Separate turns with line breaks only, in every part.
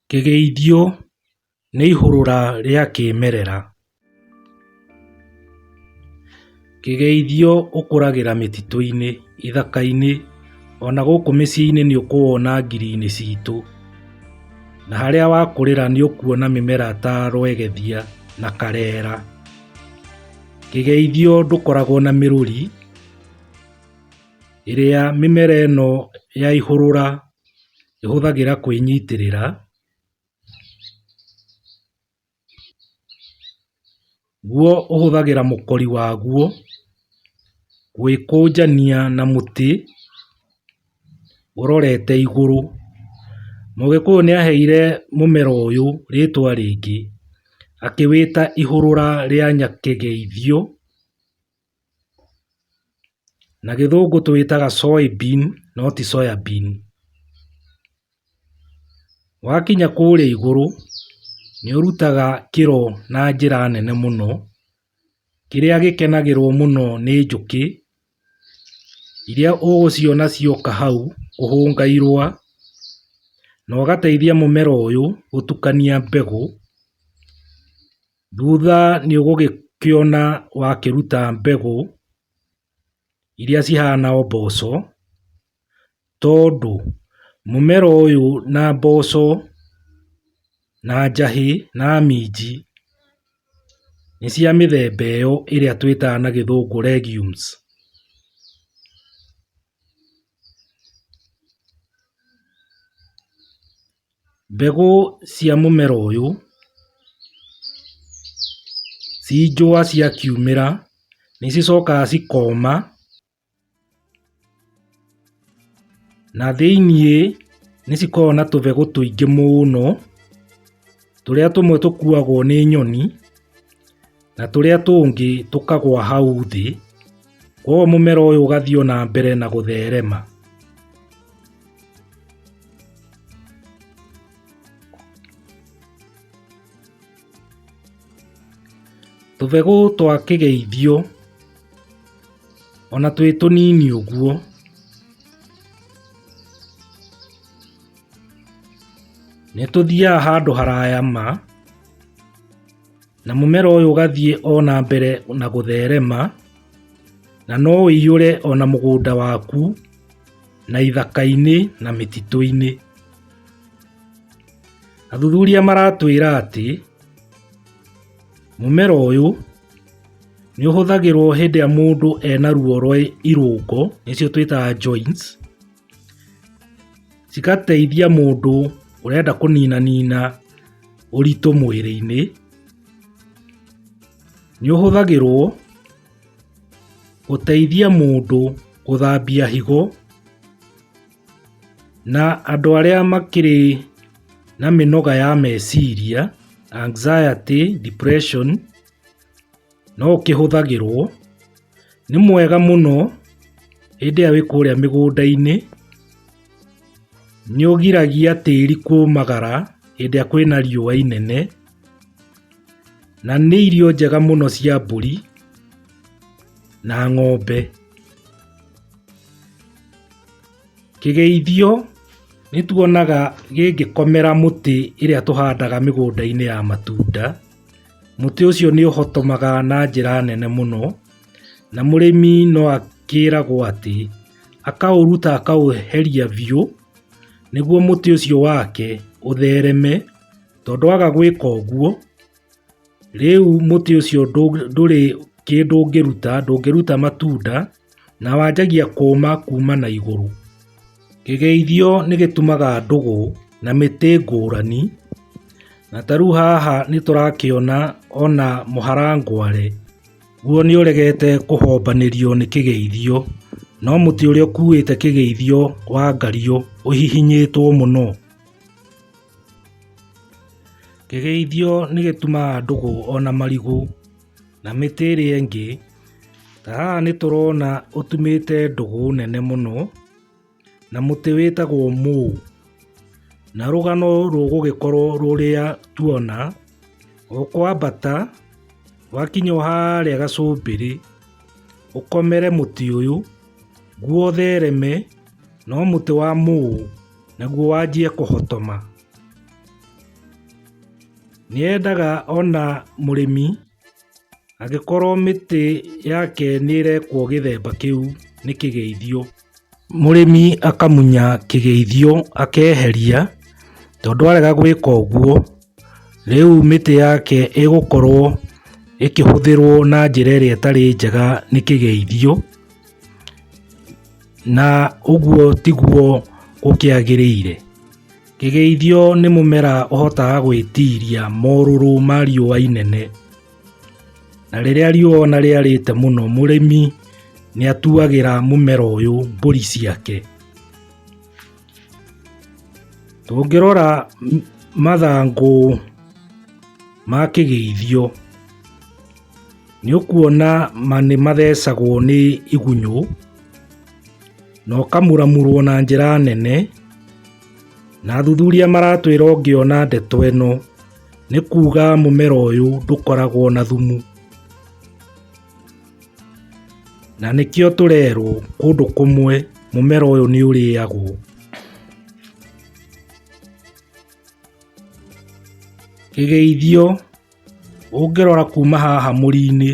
Kĩgeithio nĩ ihũrũra rĩa kĩmerera. Kĩgeithio ũkũragĩra mĩtitũ-inĩ, ithaka-inĩ, ona gũkũ mĩciĩ-inĩ nĩ ũkũwona ngiri-inĩ citũ. Na harĩa wakũrĩra nĩ ũkuona mĩmera ta rwegethia na karera. Kĩgeithio ndũkoragwo na mĩrũri. ĩrĩa mĩmera ĩno ya ihũrũra ĩhũthagĩra kwĩnyitĩrĩra, guo ũhũthagĩra mũkori waguo gwĩkũnjania na mũtĩ ũrorete igũrũ. Mũgĩkũyũ nĩ aheire mũmera ũyũ rĩtwa rĩngĩ akĩwĩta ihũrũra rĩa nyakegeithio. Na gĩthũngũ tũwĩtaga soy bean no ti soya bean. Wakinya kũrĩa igũrũ, nĩ ũrutaga kĩro na njĩra nene mũno, kĩrĩa gĩkenagĩrwo mũno nĩ njũkĩ, iria ũgũciona cioka hau kũhũnga irũa, na ũgateithia mũmera ũyũ gũtukania mbegũ. Thutha nĩũgũgĩkĩona wakĩruta mbegũ iria cihana o mboco, tondũ mũmera ũyũ na mboco na njahĩ na minji nĩ cia mĩthemba ĩyo ĩrĩa twĩtaga na gĩthũngũ legumes. Mbegũ cia mũmera ũyũ ci njũa cia kiumĩra nĩ cicokaga cikoma na thĩiniĩ nĩ cikoragwo na tũbegũ tũingĩ mũno tũrĩa tũmwe tũkuagwo nĩ nyoni. na tũrĩa tũngĩ tũkagwa hau thĩ, koguo mũmera ũyũ ũgathiĩ na mbere na gũtherema. Tũbegũ twa kĩgeithio ona twĩ tũnini ũguo nĩ tũthiaga handũ haraya ma. Na mũmera ũyũ ũgathiĩ o na mbere na gũtherema, na no ũiyũre o na mũgũnda waku, na ithaka-inĩ, na mĩtitũ-inĩ. Athuthuria maratwĩra atĩ, mũmera ũyũ nĩ ũhũthagĩrwo hĩndĩ ĩrĩa mũndũ ena ruo rwa irũngo, nĩcio twĩtaga joints, cigateithia mũndũ ũrenda kũninanina. ũritũ mwĩrĩ-inĩ, nĩ ũhũthagĩrwo gũteithia mũndũ gũthambia higo, na andũ arĩa makĩrĩ na mĩnoga ya meciria, anxiety, depression. No kĩhũthagĩrwo. Nĩ mwega mũno hĩndĩ ĩrĩa wĩ kũrĩa mĩgũnda-inĩ. Nĩ ũgiragia tĩri kũmagara hĩndĩ ĩrĩa kwĩna riũa inene. Na nĩ irio njega mũno cia mbũri na ng'ombe. Kĩgeithio nĩ tuonaga gĩngĩkomera mũtĩ ĩrĩa tũhandaga mĩgũnda-inĩ ya matunda. Mũtĩ ũcio nĩ ũhotomaga na njĩra nene mũno, na mũrĩmi no akĩragwo atĩ akaũruta akaũeheria biũ nĩguo mũtĩ ũcio wake ũthereme, tondũ waga gwĩka ũguo, rĩu mũtĩ ũcio ndũrĩ kĩndũ ũngĩruta, ndũngĩruta matunda. Na wanjagia kũũma kuuma na igũrũ. Kĩgeithio nĩ gĩtumaga ndũgũ na mĩtĩ ngũrani, na ta rĩu haha nĩ tũrakĩona ona mũharangware, guo nĩ ũregete kũhombanĩrio nĩ kĩgeithio, no mũtĩ ũrĩa ũkuĩte kĩgeithio wa ngario ũhihinyĩtwo mũno. Kĩgeithio nĩ gĩtumaga ndũgũ ona marigũ. Na mĩtĩ ĩrĩa ĩngĩ, ta haha nĩ tũrona ũtumĩte ndũgũ nene mũno, na mũtĩ wĩtagwo mũũ. Na rũgano rũgũgĩkorwo rũrĩa tuona, ũkwambata, wakinya o harĩa gacumbĩrĩ, ũkomere mũtĩ ũyũ, guo ũthereme, no mũtĩ wa mũũ, naguo wanjie kũhotoma. Nĩendaga ona mũrĩmi angĩkorwo mĩtĩ yake nĩrekwo gĩthemba kĩu nĩ kĩgeithio. Mũrĩmi akamunya kĩgeithio akeheria tondũ arega gwĩka ũguo rĩu mĩtĩ yake ĩgũkorwo ĩkĩhũthĩrwo na njĩra ĩrĩa ĩtarĩ njega nĩ kĩgeithio. Na ũguo tiguo gũkĩagĩrĩire. Kĩgeithio nĩ mũmera ũhotaga gwĩtiria morũrũ ma riũa inene. Na rĩrĩa riũa ona rĩarĩte mũno mũrĩmi nĩ atuagĩra mũmera ũyũ mbũri ciake. Tũngĩrora mathangũ ma kĩgeithio. Nĩũkuona ma nĩmathecagwo nĩ igunyũ, na ũkamuramurwo na njĩra nene, na athuthuria maratwĩra ũngĩona ndeto ĩno, nĩ kuga mũmera ũyũ ndũkoragwo na thumu. Na nĩkĩo tũrerwo kũndũ kũmwe mũmera ũyũ nĩũrĩagwo. Kĩgeithio Ũngĩrora kuma haha mũri-inĩ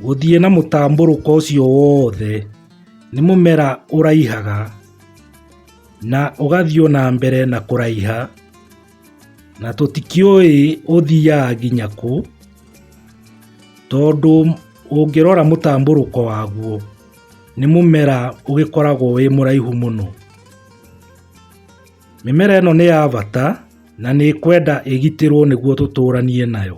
gũthiĩ na mũtambũrũko ũcio wothe, nĩ mũmera ũraihaga na ũgathiĩ ona mbere na kũraiha, na tũtikĩũĩ ũthiaga nginya kũ, tondũ ũngĩrora mũtambũrũko waguo nĩ mũmera ũgĩkoragwo wĩ mũraihu mũno. Mĩmera ĩno nĩ ya bata na nĩ kwenda ĩgitĩrwo nĩguo tũtũranie nayo.